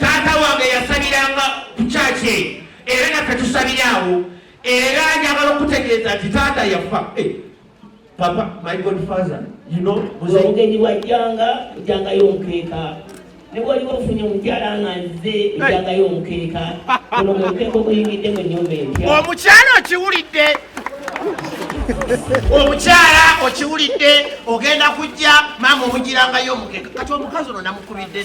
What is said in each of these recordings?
taata wange yasabiranga ku kyaki eyo era naffe tusabira awo era njagala okutegeeza nti taata yafa eh, papa my god father you know omugenyi wajjanga ojangayo omukeeka ne bwali wafunye omukyala nga nze ojangayo omukeeka ono mukeeka oguyingidde mu nyumba empya omukyala okiwulidde omukyala okiwulidde ogenda kujja maama omugirangayo omukeka kati omukazi ono namukubidde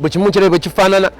bwe kimu kirabe bwe kifaanana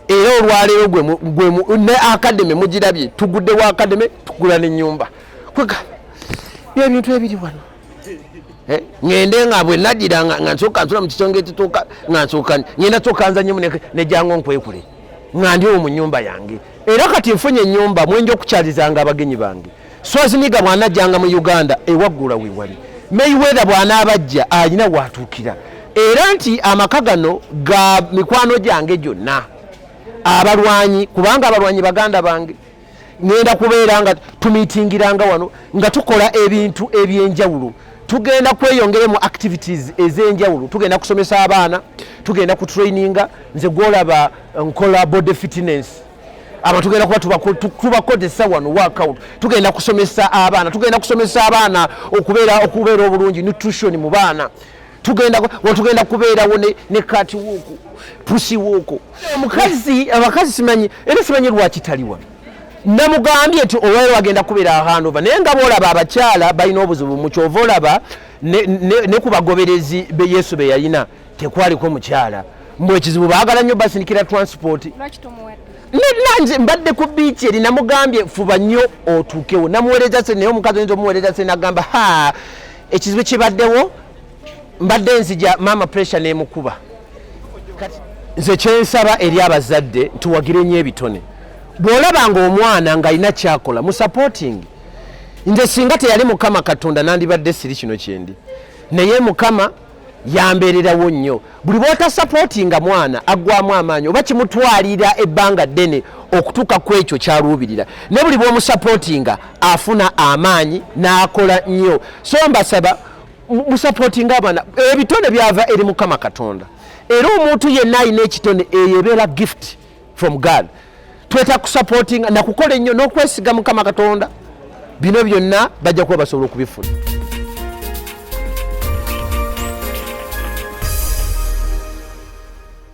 era olwaleero gwe ne akademe mugirabye tuguddewo akademe tugula nenyumba kwega byebintu ebiri wano eh, ngende nga bwe nagira nga nsooka nsula mu kisonga ekituuka nga nsooka ngenda sooka nzanyemu nejango nkwekule nga ndiwo mu nyumba yange era kati nfunye enyumba mwenja okukyalizanga abagenyi bange Swaziniga bw'anajjanga mu Uganda ewaggula we wali Mayweather bw'anaabajja alina waatuukira era nti amaka gano ga mikwano gyange gyonna abalwanyi kubanga abalwanyi baganda bange ŋenda kubeera nga tumitingiranga wano nga tukola ebintu eby'enjawulo tugenda kweyongere mu activities ez'enjawulo tugenda kusomesa abaana tugenda kutraininga nze gwolaba nkola body fitness aba tugenda kuba tubakozesa wano workout tugenda kusomesa abaana tugenda kusomesa abaana okubeera okubeera obulungi nutrition mu baana tugenda wetugenda kubeerawo ne kati woko pusi woko omukazi abakazi simanyi era simanyi lwaki tali wano namugambye nti olwayo wagenda kubeera ahandova naye nga boolaba abakyala balina obuzibu mukyova olaba ne ku bagoberezi be yesu be yalina tekwaliko mukyala mbu ekizibu baagala nnyo basindikira transport nanje mbadde ku biiki eri namugambye fuba nnyo otuukewo namuweereza se naye omukazi oyinza omuweereza se nagamba ha ekizibu kibaddewo mbadde nzija maama pressure nemukuba nze kyensaba eri abazadde ntiwagire nnyo ebitone bw'olaba nga omwana ng'alina kyakola mu supporting nze singa teyali mukama katonda nandibadde siri kino kyendi naye mukama yambeererawo nnyo buli bwotasapootinga mwana aggwamu amaanyi oba kimutwalira ebbanga ddene okutuuka ku ekyo kyaluubirira ne buli bwomusapootinga afuna amaanyi n'akola nnyo so mbasaba musapootinga abaana ebitone byava eri mukama katonda era omuntu yenna alina ekitone eyo ebeera gift from God tweta kusupporting na kukola ennyo n'okwesiga mukama katonda bino byonna bajja kuba basobola okubifuna